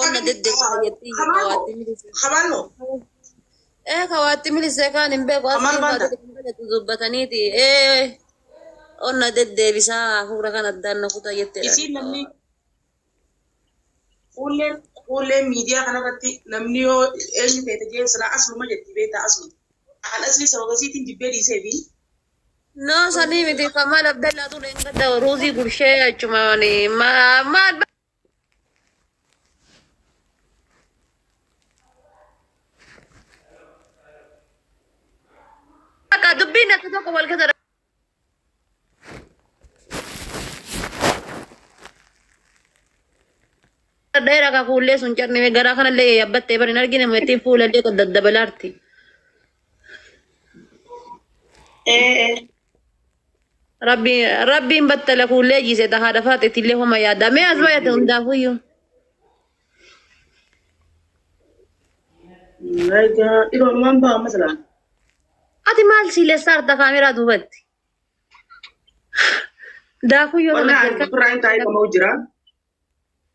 onna dedde fayyatti kawaatti milise Habaanno. ee kawaatti milise kaan hin beeku Kamal asii Banda. faati kan jedhu dubbataniiti ee onna deddeebisaa hafuura kan addaan na kutaa jetteedha Isiin namni fuulleen fuulleen miidiyaa kanarratti namni yoo eenyu feete jeen silaa asluma jetti beektaa aslu. An asli sababa isiitiin jibbee dhiisee fi no sanii miti kamal abdallaa tuleen gadda ruuzii gurshee achumaan maal Akka dubbiin akka tokko wal keessa dheeraa akka fuullee sun cabnee garaa kanallee yaabbattee bari hin argine meetiin fuulallee daddabalarti. Ee. Rabbi rabbiin battala kuullee jiise ta haadha faaxeetti illee homa yaada. Mee as baay'ate hundaafuyyuu. Egaa dhiroo numaan ba'a amma silaa. Ati maal siilessaa harta kaameraa duubatti? Daakuu yoo Wallaahi nama ani birraa hin taa'ee qama'u jira.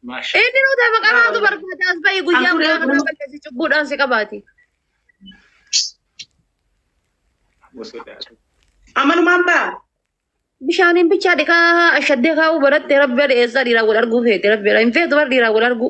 Maashaa. Inni nuti maqaa haatu barbaada as bahi guyyaa Afurii maqaa kanaa afurii. balleessi cubbuudhaan si qabaati. Amalumaan baa. Bishaaniin bichaa dhiqaa ashaddee kaa'uu baratte rabbi dhiyeessaa dhiiraa wal arguu feete rabbi hin feetu bar dhiiraa wal arguu.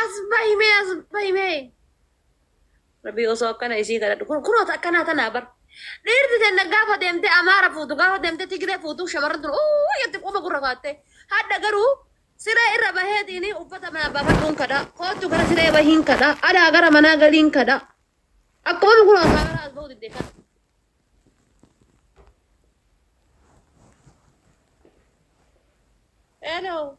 As bahi mee as bahi mee. Rabbii osoo akkana isii kadhadhu kun kunoota akkanaa tanaa bar. Dhiirti tenna gaafa deemtee amaara fuutu gaafa deemtee tigiree fuutu shamarran tun uu jetti quba gurra kaattee. Hadha garuu siree irra baheetiini uffata manaa baafadhuun kadhaa. Koottu gara siree bahiin kadhaa. Adhaa gara manaa galiin kadhaa. Akkuma nu kunoo kaameraa as bahuu didde kadhaa. Hello.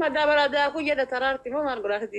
Madda baradaa kun yada taraarti moo maal godhaa sitti?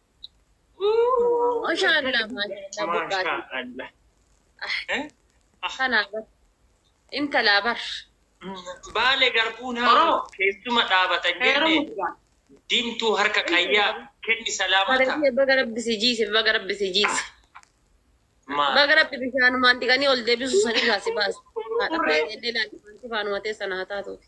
Mashallah mashallah Kana bar. Intala bar. Baale garbuun haa keessuma dhaabatan jenne diimtuu harka qayyaa kenni salaamata. Baga rabbi si jiise baga rabbi si jiise. Baga rabbi bishaanumaan dhiqanii ol deebisu san irraa si baase. Haadha baay'ee ilaalu waan sifaanuma teessan haa taatuuti.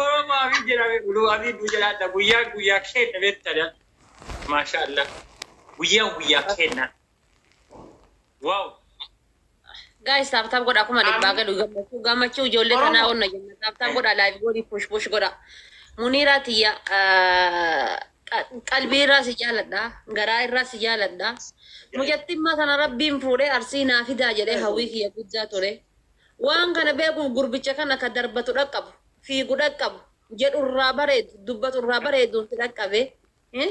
Oromaa fi jedhame uluu asii nu jalaadha guyyaa guyyaa keenya beektadha. Maashaa Allah. Guyyaa guyyaa keenya. Waaw. Guys taap taap godhaa kuma dhibbaa Amiin. galu gammachuu gammachuu ijoollee Oromo. tanaa onna jenna taap taap godhaa live godhi push push godha muniiraa tiyya ah, qa- qalbii irraa si jaaladha garaa irraa si jaaladha mucattimmaa sana rabbiin fuudhee arsii naa fidaa jedhee hawwii kiyya guddaa ture waan kana beekuuf gurbicha kana ka darbatu dhaqqabu fiigu dhaqqabu jedhu irraa bareedu dubbatu irraa bareedu itti dhaqqabe. Eh?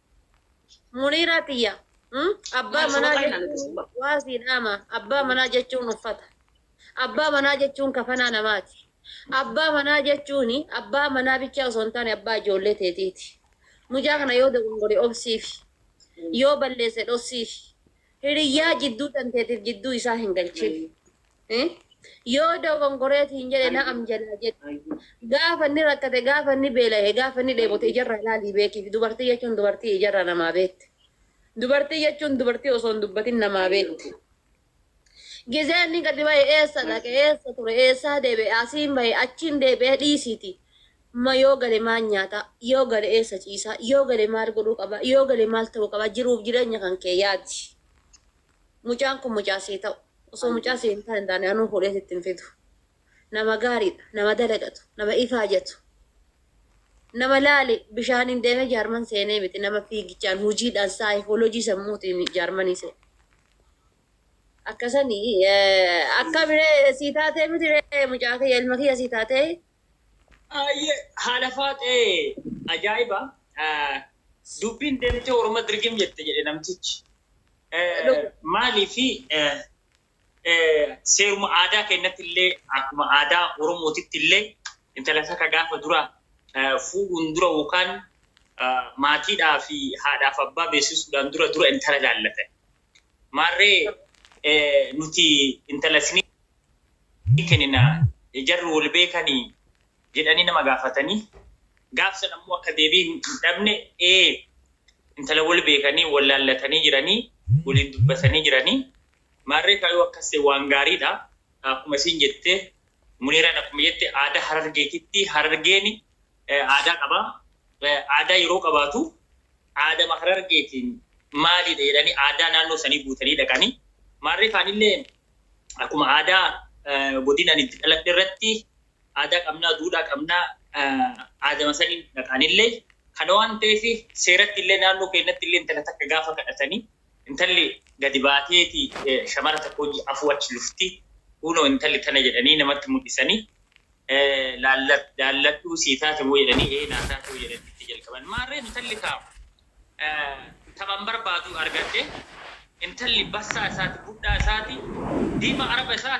Muniiraa tiyya. Hmm? Abbaa Maal manaa sobaa kaayinaan itti jechuun subbaa. waa sii dhaama. Abbaa manaa jechuun uffata. Abbaa manaa jechuun kafanaa namaati. Abbaa manaa jechuun abbaa manaa bichaa osoo hin taane abbaa ijoollee teetiiti. Mucaa kana yoo dogongore obsiifi. Yoo balleesse dhossiifi. Hiriyyaa jidduu tanteetiif jidduu isaa hin galchin. Eh? Yoo dogongoreeti hin jedhe na'am jalaa jedhe. Gaafa inni rakkate, gaafa inni beela'e, gaafa inni dheebote ijarraa ilaalii beekiif. Dubartii jechuun dubartii ijarraa namaa beekte. Dubartii jechuun dubartii osoo hin dubbatin namaa beekte. Gizee inni gadi ba'e eessa dhaqe, eessa ture, eessaa deebi'e, asiin ba'e, achiin deebi'e dhiisiiti. Ma yoo gale maal nyaata, yoo gale eessa ciisa, yoo gale maal godhuu qaba, yoo gale maal ta'uu qaba jiruuf jireenya kan kee yaadi. Mucaan kun mucaa sii ta'u osoo mucaa sii hin taane taane anuu fuudhee sitti hin fidu. Nama gaariidha, nama dalagatu, nama ifaajatu, nama laali bishaaniin deemee jaarman seenee miti, nama fiigichaan, hojiidhaan, saayikoolojii sammuutiin jaarmanii seene. Akkasanii akkamire sii taatee miti mucaa kiyya ilma kiyya sii taatee Ayyee haadha faaxee ajaa'iba dubbiin deemtee orma dirgim jette jedhe namtichi maaliifi seeruma aadaa keenyatti illee akkuma aadaa oromootitti illee intala takka gaafa dura fuudhuun dura yookaan maatiidhaa fi haadhaaf abbaa beeksisuudhaan dura dura intala laallatan Maarree nuti intala isinii kennina, jarri wal beekanii? jedhanii nama gaafatanii, gaaf san ammoo akka deebii hin dhabne, ee, intala wal beekanii, wal laallatanii jiranii, waliin dubbatanii jiranii, maarree kaa yoo akkas ta'e waan gaariidha, akkuma isiin jette, Muniiraan akkuma jette aadaa Harargeetitti, Harargeen aadaa qaba. Aadaa yeroo qabaatu aadama Harargeetiin maaliidha jedhanii aadaa naannoo sanii guutanii dhaqani. Maarree kaanillee akkuma aadaa godina ani itti dhaladhe irratti aadaa qabnaa, duudhaa qabnaa aadama saniin dhaqanillee kana waan ta'eef seeratti illee naannoo keenyatti illee intala takka gaafa kadhatanii intalli gadi baateeti shamara takka hojii afuu achi lufti kunoo intalli tana jedhanii namatti mul'isanii laalladhuu sii taate moo jedhanii ee naa taatee jedhanii itti jalqaban. Maarree intalli kaa taphan barbaadu argadhe intalli bassaa isaati budhaa isaati diimaa araba isaa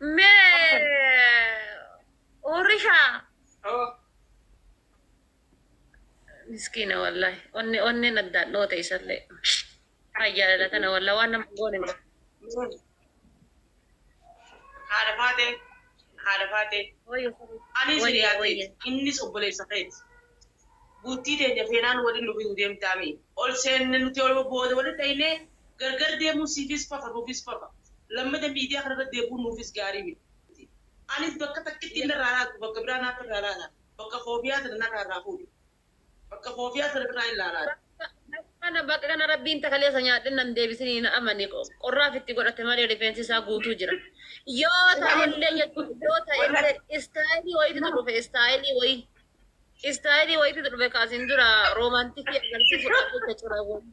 Mee Orisha. Miskiina wallahi. Onni onneen addaan dhoote isallee. Kan jaalala kana wallahi waan nama goone hin qabu. Haadha Faatee, haadha Faatee. Ani isin yaa teeti, innis obboleessa keeti. Buuttii teenya feenaan waliin nu bituu deemtaa mii? Ol seenne nuti oluma booda walitti dhaynee gargar deemuun siifis fafa nuufis fafa. Lammata miidiyaa kana irratti deebi'uun nuufis gaarii miti. Anis bakka takkitti inni irraa laatu bakka biraa naaf irraa laata. Bakka koofiyaa sana narraa irraa fuudhi. Bakka koofiyaa sana birraa hin laalaa. Bakka bakka kana rabbiin ta kaleessa nyaadhe nan deebisin hin amane qorraaf itti godhate malee rifeensi isaa guutuu jira yoo ta'ellee jechuun yoo ta'ellee istaayilii wayiitu dhufe istaayilii wayii istaayilii wayiitu dhufe kaasin dura roomaantikii agarsiisu qabeessa cira wayii.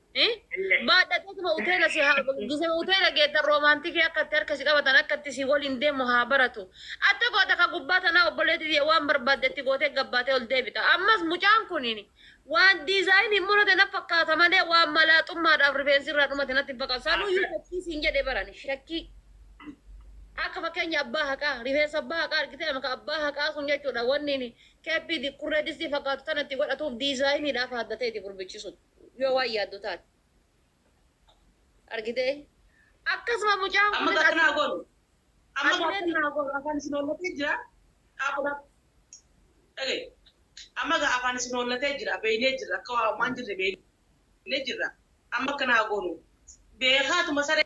Baadhateetuma uteela si haa gise uteela geettan roomaantikii akka itti harka si qabatan akka itti si waliin deemu haa baratu. Atta goota ka gubbaa tanaa obboleetti tiyya waan barbaadde itti gootee gabbaatee ol deebita. Ammas mucaan kuniin waan diizaayinii hin murate na fakkaata malee waan malaaxummaadhaaf rifeensi irraa dhumate natti hin fakkaatu. Sanuyyuu shakkii siin jedhe barani shakkii. Akka fakkeenya abbaa haqaa rifeensa abbaa haqaa argitee amma ka abbaa haqaa sun jechuudha wanni keeppii dikurree distii fakkaatu tana itti godhatuuf diizaayiniidhaaf haaddateeti gurbichi sun. yoo waan yaaddu taate. Argitee? Akkasuma mucaan Amma kunis gaaffiin haa goonu. Amma Ati gaaffiin meetii? haa goonu. Afaan isin hoollatee jira. Dhaabbu dhaabbu. Dhaga'i. Amma gaa afaan isin hoollatee jira. Beeynee jirra. Akka waa waan jirre beeynee jirra. Amma akkana haa goonu. Beekaatuma saree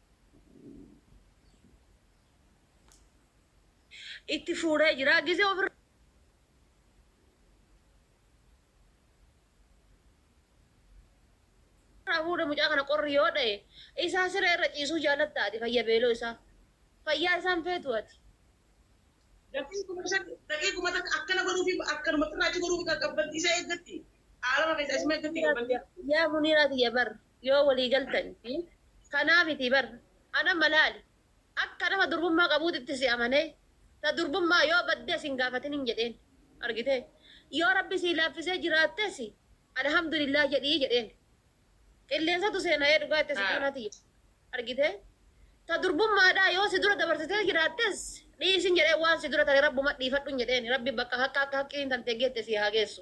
itti fuuree jira gizee ofirra irraa fuudhe mucaa kana qorri yoo dha'e isaa siree irra ciisuu jaalatta ati fayya beeloo isaa fayyaa isaan feetu ati. Dafii kuma shan dhaqee kuma takka akkana godhuufi akkanumatti irraa achi godhuufi kan qabbanti isa eeggatti. Aalama keessa isuma eeggatti qabbanti. Yaa muniiraa tiyya barra. yoo walii galtani fi kanaa mitii bar an amma laali akka nama durbummaa qabuutitti si amanee ta durbummaa yoo baddee sin gaafatin hin jedheen argitee yoo rabbi sii laaffisee jiraattes alhamdulillah jedhii jedheen qilleensatu seena'ee dhugaa itti situu na tiyya argitee ta durbummaadhaa yoo si dura dabarsitee jiraattes dhiisin jedhee waan si dura tare rabbuma dhiifadhun jedheen rabbi bakka haqqa akka haqqiin tantee geette sii haa geessu.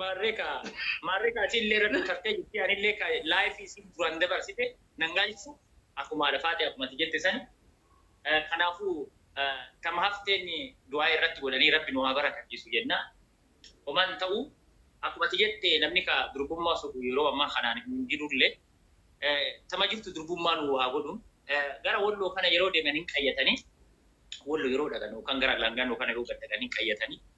Maarree kaa maarree kaa isiin illee rabbi tartee jirti ani illee kaa life isiin duraan dabarsite nan gaalchisu akkuma haadha faatee akkuma ati jette sani kanaafuu tama hafteen du'aa irratti godhanii rabbi nu haa barakachiisu jenna homaan ta'u akkuma ati jette namni kaa durbummaa sobu yeroo ammaa kanaan hin jirullee tama jirtu durbummaa nu haa godhu gara walloo kana yeroo deeman hin qayyatanii wallo yeroo dhaqanu kan gara langaa nu kana yeroo gad dhaqan hin qayyatanii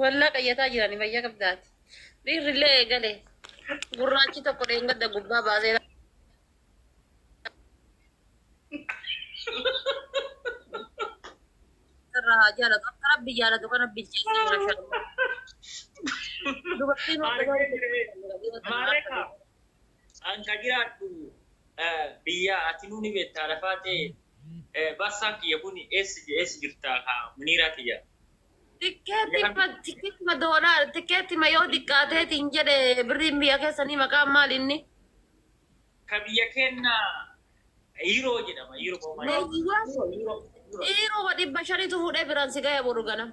Wallah qayyataa jirani fayya qabda ati. Dhiirri illee eegale. Gurraachi tokko dheengadda gubbaa baasee irra haa jaalatu. Akka rabbi jaalatu kana bilcheessi mashallah. Dubartiin waan Maarree jirmi. Maarree kaa. An ka jiraadhu biyyaa atinuu ni bettaa lafaa tee bassaan kiyya kuni eessa jirta ka muniiraa tiyya. Tikkeettima tikkeettima doolaara tikkeettima yoo xiqqaatee siin jedhe birriin biyya keessanii maqaan maali inni? Ka biyya keenna Euro jedhama Euro Leeyyiwwan Euro dhibba shanitu fuudhee biraan si gaya boru ganama.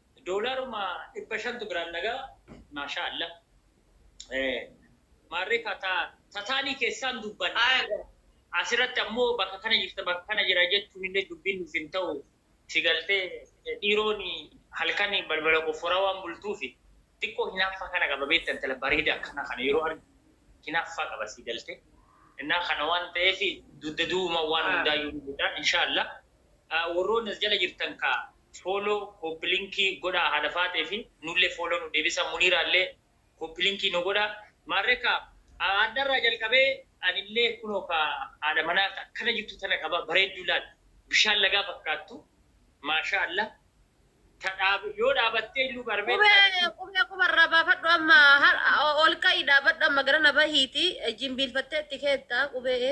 Doolaruma dhibba shantu biraan na ga'a maashaa alla maarree kaa taa tataanii keessaan dubbanna asirratti ammoo bakka kana jirta bakka kana jira jechuun illee dubbiin nuuf hin ta'u si galtee dhiiroon halkan balbala qofforaa waan bultuufi xiqqoo hinaaffaa kana qaba beekta intala bareeda akkana kana yeroo argu hinaaffaa qaba si galtee innaa kana waan ta'eef dugda duwuma waan hundaayyuu ni godha inshaa alla warroonni as jala jirtan kaa Follow copy link godhaa haadha faaxee fi nullee follow nu deebisa muniiraa illee copy link nu godha maarree kaa haadha irraa jalqabee anillee kunoo kaa haadha manaa ta akkana jirtu tana qaba bareedduu laal bishaan lagaa fakkaattu maashaa allah ta dhaab yoo dhaabattee illuu barbee Qubee taate kun qubee quba irraa baafadhu amma har- ol ka'i dhaabadhu amma gara na bahiiti jimbiilfattee itti keetta qubee.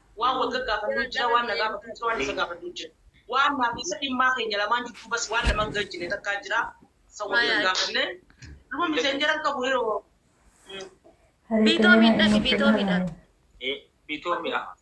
Waan wal gaggaafannu jira, waan na gaafatu jira, waan isa gaafadhu jira. Waan naa fi isa dhimmaa keenya lamaan jidduu bas waan laman galchine takkaa jira, san wal hin gaafanne. Luma messenger hin qabu hiroo. Bitomi dhaqi bitomi dhaqi. Bitomi dhaqi.